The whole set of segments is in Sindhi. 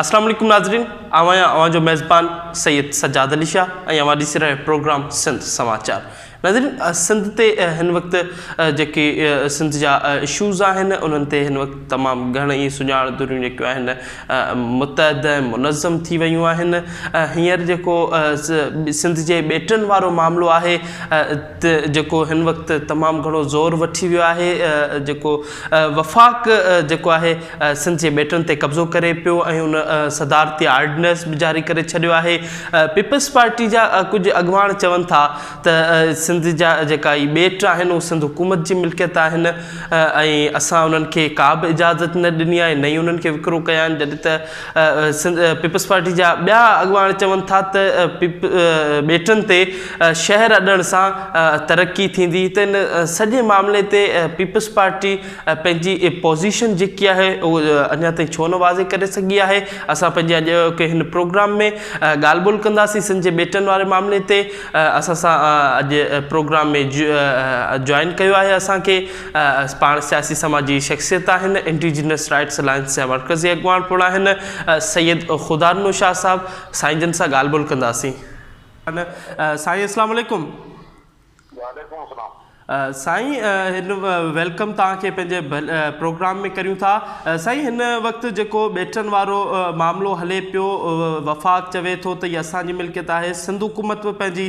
اسلام عليڪم ناظرين آئون آهيان اوهان جو ميزبان سيد سجاد علي شاهه ۽ اوهان ڏسي رهيا پروگرام سنڌ سماچار ناظرين سنڌ تي هن وقت جيڪي سنڌ جا اشوز آهن انهن تي هن وقت تمام گهڻ ئي سڃاڻ دريون جيڪيون آهن متحد ۽ منظم ٿي ويون آهن هينئر جيڪو سنڌ جي ٻيٽن وارو معاملو آهي تي جيڪو هن وقت تمام گهڻو زور وٺي ويو آهي جيڪو وفاق جيڪو آهي سنڌ جي ٻيٽن تي قبضو ڪري پيو ۽ ان صدارتي آرڊننس به جاري ڪري ڇڏيو آهي پيپلز پارٽي جا ڪجهه اڳواڻ چون ٿا ته سنڌ جا جيڪا هي ٻيٽ آهن اهي سنڌ حڪومت جي ملڪيت آهن ۽ اسان انهن کي ڪابه اجازت نه ڏني آهي نه ئي انهن کي وڪرو ڪيا آهن جڏهن ته سنڌ پيپلز پارٽي جا ٻيا اڳواڻ چون ٿا ته ٻيٽن تي شهر اڏڻ سان ترقي ٿيندي ته ان سڄي معاملي تي پيپلز پارٽي پنهنجي پوزيشن جيڪي آهي اهو اڃا تائين ڇو نه واضح ڪري سگهي آهي اسان پنهنجي اڄ ڪي هن پروگرام ۾ ڳالهه ٻولهه ڪنداسين سنڌ جي ٻيٽن واري معاملي تي اسان سان اڄ پروگرام ۾ جوائن ڪيو آهي اسانکي پاڻ سياسي سماجي شخصيت آهن، انڊيجينس رائٽس الائنس جا مرڪزي اڳواڻ پڻ آهن، سيد خدارنو شاهه صاحب، سائين جن سان ڳالهه ٻولهه ڪنداسين. سائين اسلام عليڪم. وعليڪم السلام. سائين هن ويلڪم توهان کي پنهنجي پروگرام ۾ ڪريون ٿا. سائين هن وقت جيڪو ٻيٽن وارو معاملو هلي پيو وفاق چوي ٿو ته هي اسان جي ملڪيت آهي سنڌ حڪومت به پنهنجي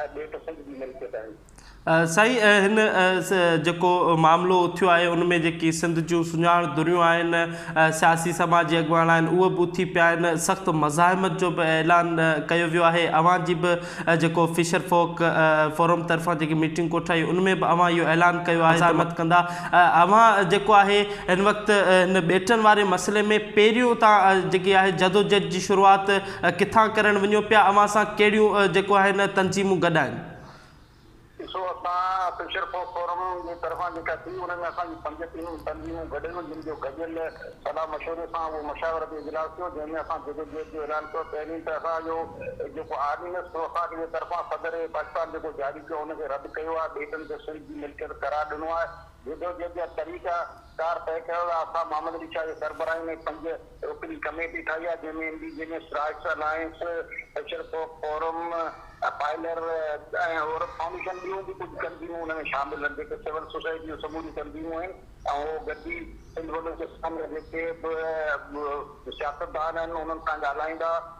۽ ٻئي پسند جي ملڪيت آهي. سائين هن جيڪو معاملو اٿيو آهي ان ۾ جيڪي سنڌ جون سڃاڻ ڌريون آهن سياسي سماجي اڳواڻ آهن اهي به اٿي پيا آهن سخت مزاحمت جو به اعلان ڪيو ويو آهي اوهان جي به جيڪو فشر فوڪ فورم طرفان جيڪي ميٽنگ ڪوٺائي ان ۾ به اوهان اهو اعلان ڪيو آهي مزاحمت ڪندا اوهان جيڪو آهي هن وقت هن ٻيٽن واري مسئلي ۾ پهريون تان جيڪي آهي جدوجهد جي شروعات ڪٿان ڪرڻ وڃو پيا اوهان سان ڪهڙيون جيڪو آهي نه تنظيمون گڏ آهن. ڏسو اسان فشر فوڪ فورم جي طرفان جيڪا ٿي ان ۾ اسان جون پنج ٽيم تنظيمون گڏ هيون جن جو گڏيل صلاح مشوري سان اهو مشاورتي اجلاس ٿيو جنهن ۾ اسان جدوجهد جو اعلان ڪيو پهرين ته اسان جو جيڪو آرڊيننس ٿيو وفاق جي طرفان صدر پاڪستان جيڪو جاري ڪيو ان کي رد ڪيو آهي ٻيٽن کي سنڌ جي ملڪيت قرار ڏنو آهي جدوجهد جا طريقه ڪار طئي ڪرڻ لاء اسان محمد علي شاهه جي سربراهي ۾ پنج رڪني ڪميٽي ٺاهي آهي، جنهن ۾ M D G M S, Rights Alliance, ايشر ڪوڪ فورم، پائلر ۽ عورت فائونڊيشن ٻيون به ڪجهه تنظيمون ان ۾ شامل آهن، جيڪي سول سوسائٽي جون سموريون تنظيمون آهن ۽ اهو گڏجي سنڌ بلوچستان جا جيڪي به سياستدان آهن انهن سان ڳالهائيندا.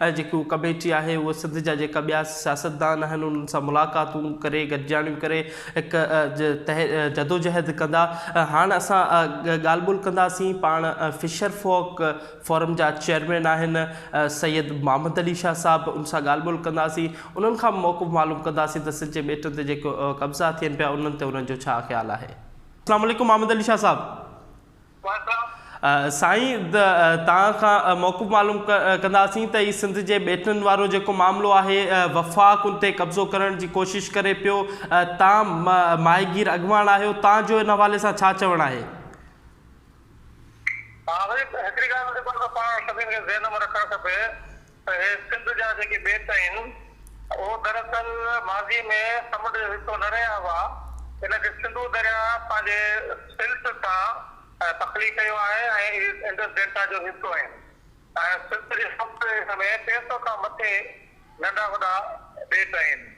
۽ جيڪي اهو ڪميٽي آهي اهو سنڌ جا جيڪا ٻيا سياستدان آهن انهن سان ملاقاتون ڪري گڏجاڻيون ڪري هڪ جدوجهد ڪندا هاڻ اسان ڳالهه ٻولهه ڪنداسين پاڻ فشر فوڪ فورم جا چيئرمين آهن سيد محمد علي شاهه صاحب ان سان ڳالهه ٻولهه ڪنداسين انهن کان موقف معلوم ڪنداسين ته سنڌ جي ٻيٽن تي جيڪو قبضا ٿين پيا انهن تي انهن جو ڇا خيال آهي السلام عليڪم محمد علي شاهه صاحب سائين توهان کان موقف معلوم ڪنداسين ته هي سنڌ جي ٻيٽن وارو جيڪو معاملو آهي وفاق ان تي قبضو ڪرڻ جي ڪوشش ڪري پيو توهان ماهيگير اڳواڻ آهيو توهان جو ان حوالي سان ڇا چوڻ آهي؟ اهي سنڌ جا جيڪي ٻيٽ آهن، اهو دراصل ماضي ۾ سمنڊ جو حصو نه رهيا هئا، ان کي سنڌو درياء پنهنجي سلٽ سان تخليق ڪيو آهي ۽ اهي انڊس ڊيلٽا جو حصو آهن ۽ سنڌ جي سمنڊ جي هيٺ ۾ ٽي سؤ کان مٿي ننڍا وڏا ٻيٽ آهن.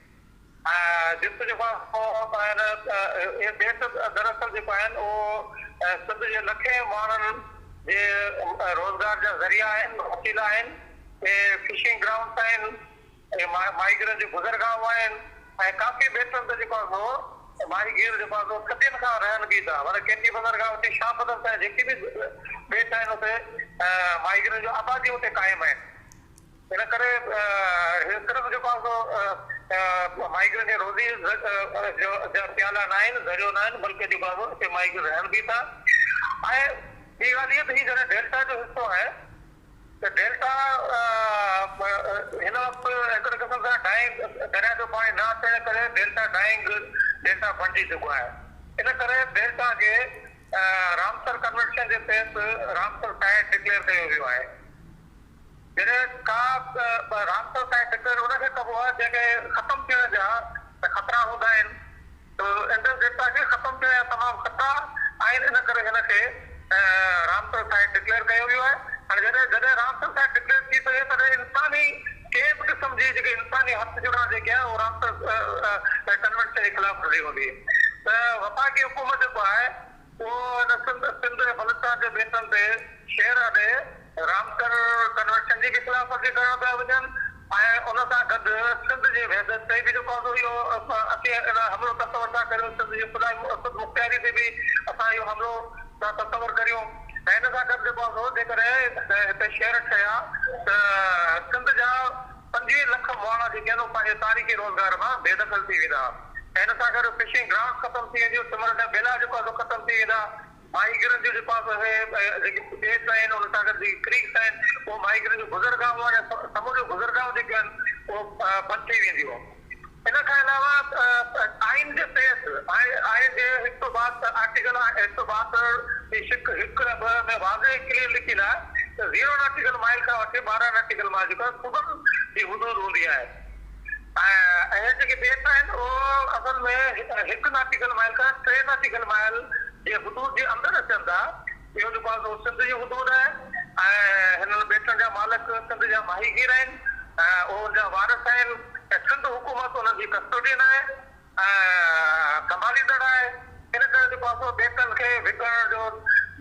جت جيڪو آهي سو ٻاهر اهي بيت دراصل جيڪو آهن اهو سنڌ جي لکين ماڻهن جي روزگار جا ذريعا آهن وسيلا آهن اهي فشنگ گرائونڊس آهن اهي ماهيگيرن جون گذرگاهون آهن ۽ ڪافي بيتن تي جيڪو آهي سو ماهيگير جيڪو آهي سو صدين کان رهن به ٿا ورنه ڪي ڪي بندرگاهه اتي شاهه بدر تائين جيڪي به بيت آهن اتي ماهيگيرن جون آباديون اتي قائم آهن. ان ڪري هي صرف جيڪو آهي سو مائگرين جي روزي جا پيالا ناهن، ذريعو ناهن، بلڪه جيڪو آهي سو هتي مائگرين رهن به ٿا ۽ ٻي ڳالهه هيء ته هي جڏهن ڊيلٽا جو حصو آهي ته ڊيلٽا هن وقت هڪڙي قسم سان ڊائنگ درياهه جو پاڻي نه اچڻ ڪري ڊيلٽا ڊائنگ ڊيلٽا بڻجي چڪو آهي. ان ڪري ڊيلٽا کي رامسر ڪنوينشن جي تحت رامسر سائيٽ ڊڪليئر ڪيو ويو آهي. جڏهن ڪا به رابطو ڪنهن فڪر ان کي ڪبو آهي جنهن کي ختم ٿيڻ جا ته خطرا هوندا آهن ته ايندڙ ڊيٽا کي ختم ٿيڻ جا تمام خطرا آهن ان ڪري هن کي رابطو سائيٽ ڊڪليئر ڪيو ويو آهي هاڻي جڏهن جڏهن رابطو سائيٽ ڊڪليئر ٿي سگهي تڏهن انساني ڪنهن به قسم جي جيڪي انساني هٿ جڙا جيڪي آهي اهو رابطو ڪنوينشن جي خلاف ورزي هوندي ته وفاقي حڪومت جيڪو آهي پوء هن سنڌ، سنڌ ۽ بلوچستان جي بيتن تي شعر اڏي رامسر ڪنوينشن جي به خلاف ورزي ڪرڻ پيا وڃن ۽ ان سان گڏ سنڌ جي وحدت تي به جيڪو آندو اهو اسين ان حملو تصور ٿا ڪريون، سنڌ جي خدا خودمختياري تي به اسان اهو حملو ٿا تصور ڪريون ۽ ان سان گڏ جيڪو آندو جيڪڏهن هتي شعر ٺهيا ته سنڌ جا. پنجويهه لک مواڻا جيڪي آهن اهي پنهنجي تاريخي روزگار مان بي دخل ٿي ويندا ۽ ان سان گڏ فشنگ گرانٽس ختم ٿي وينديون، سمنڊ جا ٻيلا جيڪو آهي سو ختم ٿي ويندا، ماهيگيرن جون جيڪو آهي سو اهي جيڪي ٻيٽ آهن ان سان گڏ جيڪي ڪريڪس آهن اهو ماهيگيرن جون گذرگاهون آهن ۽ سمنڊ جون گذرگاهون جيڪيون آهن اهو بند ٿي وينديون. ان کان علاوه آئين جي تحت آئين جي هڪ سؤ ٻاهتر آرٽيڪل هڪ سؤ ٻاهتر جي شق هڪ ۽ ٻه ۾ واضح ۽ ڪليئر لکيل آهي ته زيرو ناٽيڪل مائيل کان وٺي ٻارهن ناٽيڪل مائيل جيڪو آهي صوبن جي حدود هوندي آهي ۽ اهي جيڪي ٻيٽ آهن اهو اصل ۾ هڪ ناٽيڪل مائيل کان ٽي ناٽيڪل مائيل جي حدود جي اندر اچن ٿا. اهو جيڪو آهي سو سنڌ جي حدود آهي ۽ هنن ٻيٽن جا مالڪ سنڌ جا ماهيگير آهن ۽ اهو ان جا وارث آهن ۽ سنڌ حڪومت انهن جي ڪسٽوڊين آهي ۽ سنڀاليندڙ آهي ان ڪري جيڪو آهي سو ٻيٽن کي وڪڻڻ جو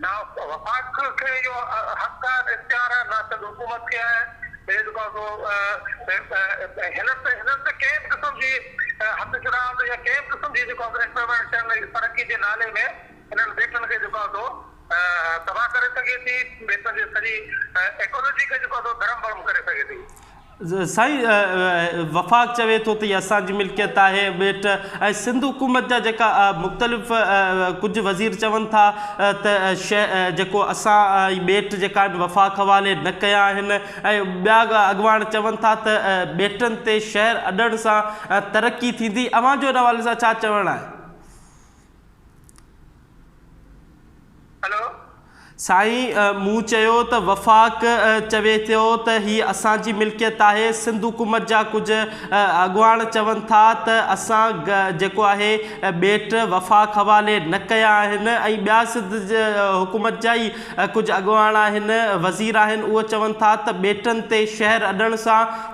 نه وفاق کي اهو حق آهي نه اختيار آهي نه سنڌ حڪومت کي آهي اهو جيڪو آهي سو هنن تي هنن تي ڪنهن به قسم جي هٿ ڇڏائڻ تي يا ڪنهن به قسم جي جيڪو آهي سو انٽروينشن ترقي جي نالي ۾ انهن ٻيٽن کي جيڪو سو تباهه ڪري سگهي ٿي ٻيٽن جي سڄي ايڪولوجي کي جيڪو سو ڌرم ڀرم ڪري سگهي ٿي. سائين وفاق چوي ٿو ته هي اسان جي ملڪيت آهي ٻيٽ ۽ سنڌ حڪومت جا جيڪا مختلف ڪجهه وزير چون ٿا ته جيڪو اسان هي ٻيٽ جيڪا آهن وفاق حوالي نه ڪيا آهن ۽ ٻيا اڳواڻ چون ٿا ته ٻيٽن تي شهر اڏڻ سان ترقي ٿيندي اوهان جو ان حوالي سان ڇا چوڻ آهي؟ سائين مون چيو ته وفاق چوي ٿيو ته هي اسان جي ملڪيت آهي، سنڌ حڪومت جا ڪجهه اڳواڻ چون ٿا ته اسان جيڪو آهي ٻيٽ وفاق حوالي نه ڪيا آهن ۽ ٻيا سنڌ حڪومت جا ئي ڪجهه اڳواڻ آهن وزير آهن اهي چون ٿا ته ٻيٽن تي شهر اڏڻ سان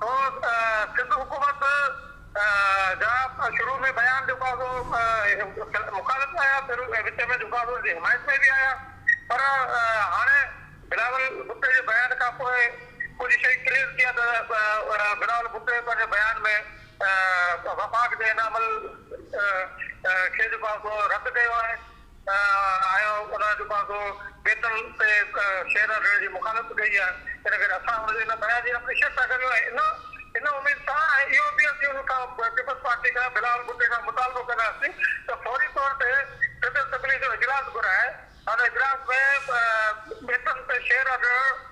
سو سنڌ حڪومت جا شروع ۾ بيان جيڪا سو مخالف آيا پھرين ۽ وچ ۾ جيڪا سو ان جي حمايت ۾ به آيا پر ھاڻي بلاول ڀٽو جي بيان کان پوء ڪجھ شيء ڪليئر ٿي آ ته بلاول ڀٽو پنھنجي بيان ۾ وفاق جي ان عمل کي جيڪو آ سو رد ڪيو آھي. آيا آهيون انهن جو پاسو بيتن تي شعر رکڻ جي مخالفت ڪئي آهي ان ڪري اسان ان جي بيان جي اپريشيٽ ٿا ڪريون ۽ ان ان اميد سان ۽ اهو به اسين ان کان پيپلز پارٽي کان بلاول ڀٽي کان مطالبو ڪنداسين ته فوري طور تي سنڌ اسيمبلي جو اجلاس گهرائي ان اجلاس ۾ بيتن تي شعر رکڻ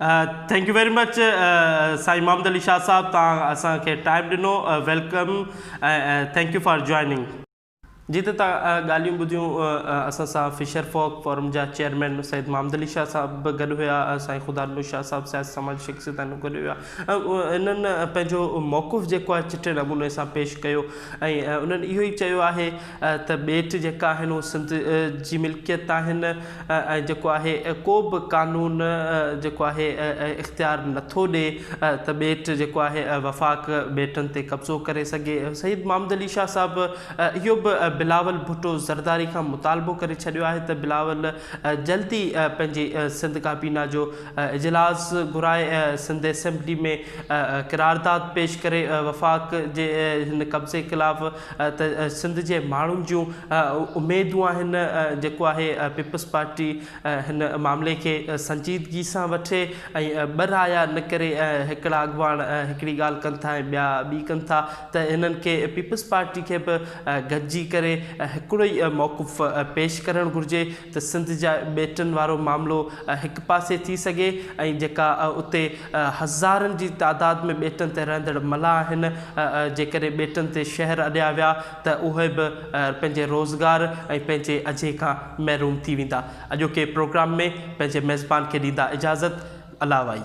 ٿينڪ يو ويري مچ سائين محمد علي شاهه صاحب تان اسان کي ٽائم ڏنو welcome thank you for joining. جي ته تان ڳالهيون ٻڌيون اسان سان فشر فاڪ فورم جا چيئرمين سيد محمد علي شاهه صاحب به گڏ هيا سائين خدا نور شاهه صاحب سياسي سماجي شخصيت آهن گڏ هيا انهن پنهنجو موقف جيڪو آهي چٽي نموني سان پيش ڪيو ۽ انهن اهو ئي چيو آهي ته ٻيٽ جيڪا آهن اهي سنڌ جي ملڪيت آهن ۽ جيڪو آهي ڪو به قانون جيڪو آهي اختيار نٿو ڏي ته ٻيٽ جيڪو آهي وفاق ٻيٽن تي قبضو ڪري سگهي. سيد محمد علي شاهه صاحب اهو به بلاول ڀٽو زرداري کان مطالبو ڪري ڇڏيو آهي ته بلاول جلد ئي پنهنجي سنڌ ڪابينا جو اجلاس گهرائي سنڌ اسيمبلي ۾ قرارداد پيش ڪري وفاق جي هن قبضي خلاف ته سنڌ جي ماڻهن جون اميدون آهن جيڪو آهي پيپلز پارٽي هن معاملي کي سنجيدگي سان وٺي ۽ ٻه رايا نه ڪري هڪڙا اڳواڻ هڪڙي ڳالهه ڪن ٿا ۽ ٻيا ٻي ڪن ٿا ته هنن کي پيپلز پارٽي کي به گڏجي ڪري هڪڙو ئي موقف پيش ڪرڻ گهرجي ته سنڌ جا ٻيٽن وارو معاملو هڪ پاسي ٿي سگهي ۽ جيڪا اتي هزارن جي تعداد ۾ ٻيٽن تي رهندڙ ملاح آهن جيڪڏهن ٻيٽن تي شهر اڏيا ويا ته اهي به پنهنجي روزگار ۽ پنهنجي اجهي کان محروم ٿي ويندا اڄوڪي پروگرام ۾ پنهنجي ميزبان کي ڏيندا اجازت الله وائي.